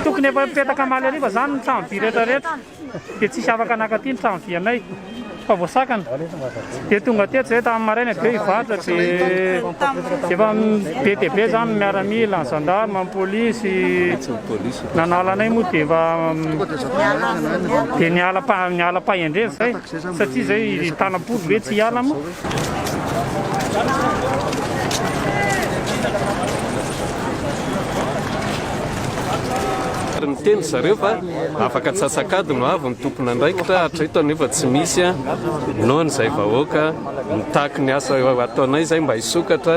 Tokony efa mipetaka Malariva zany ny trano vy rehetra rehetra dia tsisy afaka naka aty ny trano vy anay fa voasakana dia tonga aty hatrizay tamin'ny maraina dia hivarotra dia efa be dia be zany ny miaramila, ny gendarme, ny polisy Nanala anay moa dia efa dia niala am-paha- niala am-pahendrena izay satria izay tanam-polo ve tsy hiala moa. ary niteny ry zareo fa afaka antsasak'ady no avy ny tompon'andraikitra hatreto anefa tsy misy a, noho an'izay vahoaka mitaky ny asa ataonay izay mba hisokatra.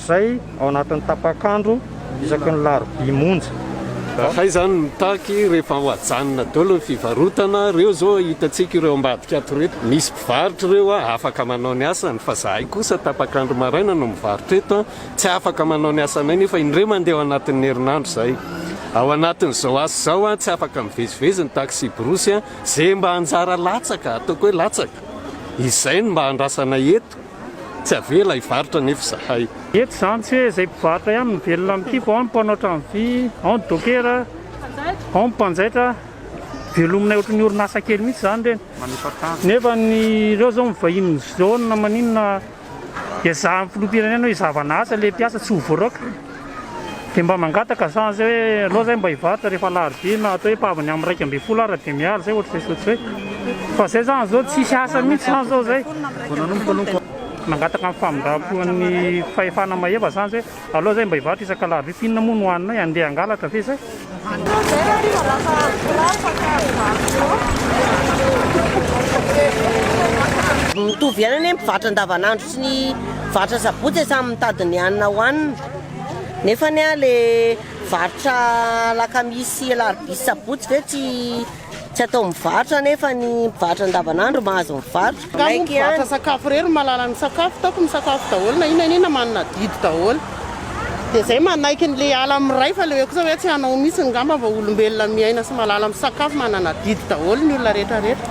izay ao anatin'ny tapak'andro isaky ny larobia monja. Hay izany no mitaky rehefa ho ajanona daholo ny fivarotana, ireo izao hitantsika ireo ambadika ato ireto misy mpivarotra ireo afaka manao ny asany fa izahay kosa tapak'andro maraina no mivarotra eto tsy afaka manao ny asanay nefa indray mandeha ao anatin'ny herinandro izay ao anatin'izao asa izao tsy afaka mivezivezy ny taksiborosy izay mba anjara latsaka ataoko hoe latsaka izay no mba andrasanay eto. Tsy avela hivarotra anefa izahay. Eto izany tsy hoe izay mpivarotra ihany no velona amin'ity fa ao ny mpanao trano vy, ao ny dokera, ao ny mpanjaitra. Velominay ohatry ny orinasa kely mihitsy izany ireny. Nefa ny ireo izao mivahinin'ny zone na maninona ezahany filoham-pirenena hoe izavana asa ilay mpiasa tsy ho voaraoka. Dia mba mangataka za zay hoe aleo zay mba hivarotra rehefa alarobia na atao hoe pahavany am iraika ambin'ny folo ara dia miala zay ohatr'izay zao tsy hoe fa zay zany zao tsisy asa mihitsy zany zao zay vao nanomboka aloha mangataka ny famindram-po an'ny fahefana mahefa zany zay hoe aleo zay mba hivarotra isak'alarobia f'inona moa no haninay andeha hangalatra ve zay. Mitovy ihany anie mpivarotra andavanandro. Tsy ny varotra sabotsy e, samy mitady ny hanina hohanina. Nefa anie an, le varotra alakamisy sy alarobia sy sabotsy ve tsy tsy atao mivarotra nefa ny mpivarotra andavanandro mahazo mivarotra. Nga moa mpivarotra sakafo irery no mahalala ny sakafo, taoko misakafo daholo na inona na inona manana adidy daholo. Dia zay manaiky ny le ala miray fa le hoe kosa hoe tsy hanao mihitsy ngamba vao olombelona miaina sy malala misakafo manana adidy daholo ny olona rehetra rehetra.